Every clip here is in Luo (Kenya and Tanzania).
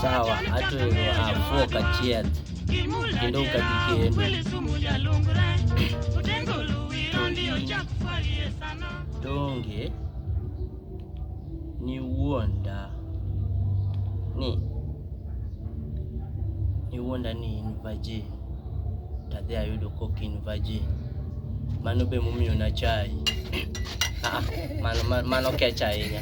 sawa atwero afuo kachiel kendo kadikendo donge niwuonda ni niwuonda ni in virgin tadhi ayudo kok in virgin mano be momiyo na chai ah, mano, mano kech ahinya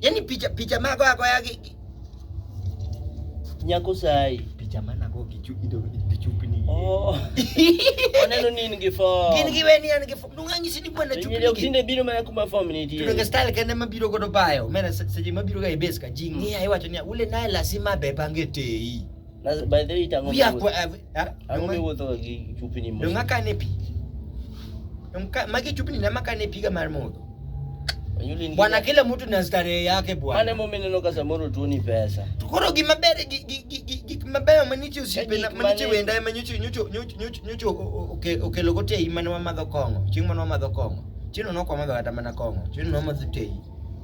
Yaani picha picha mago agoya gi nyako sai. Picha mana go gi chupi do gi chupi ni. Oh. Oneno ni in gi form. Gin gi weni an gi form. Nunga nyisi ni bwana chupi. Ndio tinde biro mana kuma form ni die. Tudoge style kende mabiro godo bayo. Mena seje mabiro ga e base ka jingi mm. ayi wacho ni ule naye lazima bebange tei. Na by the way tango. Pia kwa eh, eh, tango mi wuotho gi chupni mo. Donga kane pi. Donga magi chupni na makane piga mar modho. Bwana, kila mtu na starehe yake bwana. Ane mume neno kasa moro tu ni pesa. Tukoro gi mabere gi gi gi gi gi mabeyo manichi usipe na manichi wenda manyuchi nyucho nyucho nyucho nyucho oke oke logote imana wa madho kongo. Chieng' mano wa madho kongo. Chino no kwa madho kata mana kongo. Chino no madho tei.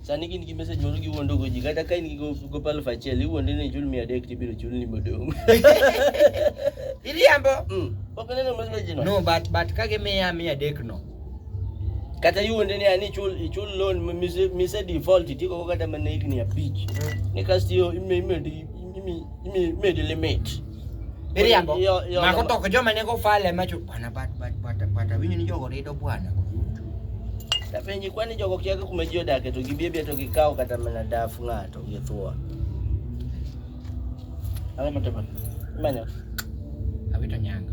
Sani gin gi message moro giwuondo go ji kata ka in gi gopa aluf achiel iwuonde ni chul mia adek tibiro chul ni modong'. Iriambo. Mm. Ok neno message no. No, but but ka gimiya mia adek no. Kata iwuonde ni ani chul ichul loan mise mise default itiko kata mana higni abich. Mm. Ni kasto ime ime ime ime limit. Miriambo. Mako toko joma ne go fale macho bwana bat bat bat bat winyo ni jogo rido bwana. Tapenji kwani jogo kiaga kuma jio dake to gibebe to gikao kata mana dafu ngato githua. Awe mataba. Manyo. Awito nyanga.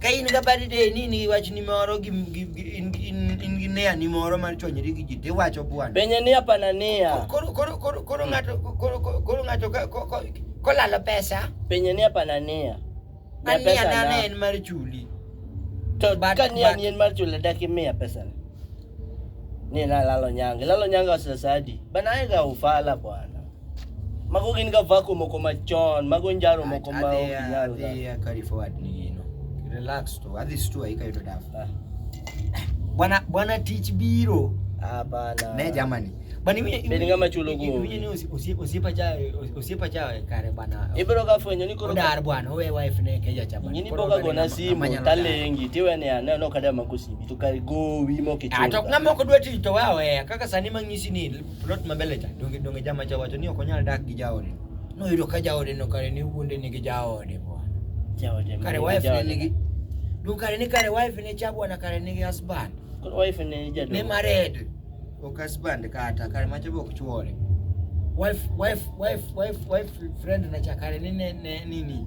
ka in ga bad day ni ni wach ni moro gi in gi nea ni moro mar chonyri gi ji tiwacho bwana benye ni apana nia koro koro koro koro ngato koro koro ngato ko lalo pesa benye ni apana nia na pesa na en mar chuli to ka ni ni en mar chuli dak imiya pesa ni na lalo nyange lalo nyange osesadi bana ega ufala bwana Mago gin ga vako moko machon, mago njaro moko ma ok nyal. Adhi ya carry forward ni gino. Relax to, adhi stua hii kayo to dafu. Ah. Bwana bwana teach biro. Hapana. Ne jamani. Bani mimi ni ngama chulo go. Mimi ni usipa cha usipa cha kare bwana. Ibro ka fwenyo ni koro. Dar bwana we wife ne keja cha bwana. Nyini boga gona simu talengi tiwe ne ana no kada makusibi tukari go wimo kichwa. Atok ngama ko dweti to wawe kaka sani mangisi ni Plot ma mbele cha donge donge jama cha wacho ni ok onyal dak gi jaode. No yudo ka jaode no kare ni wuonde ni gi jaode bwana. Jaode. Kare wife ne ni gi Dun kare ni kare wife ne cha bwana kare ni gi husband. Kare wife ne jaode. Ne married. Ok husband kata kare macho be ok chuore. Wife wife wife wife wife friend na cha kare ni ne nini.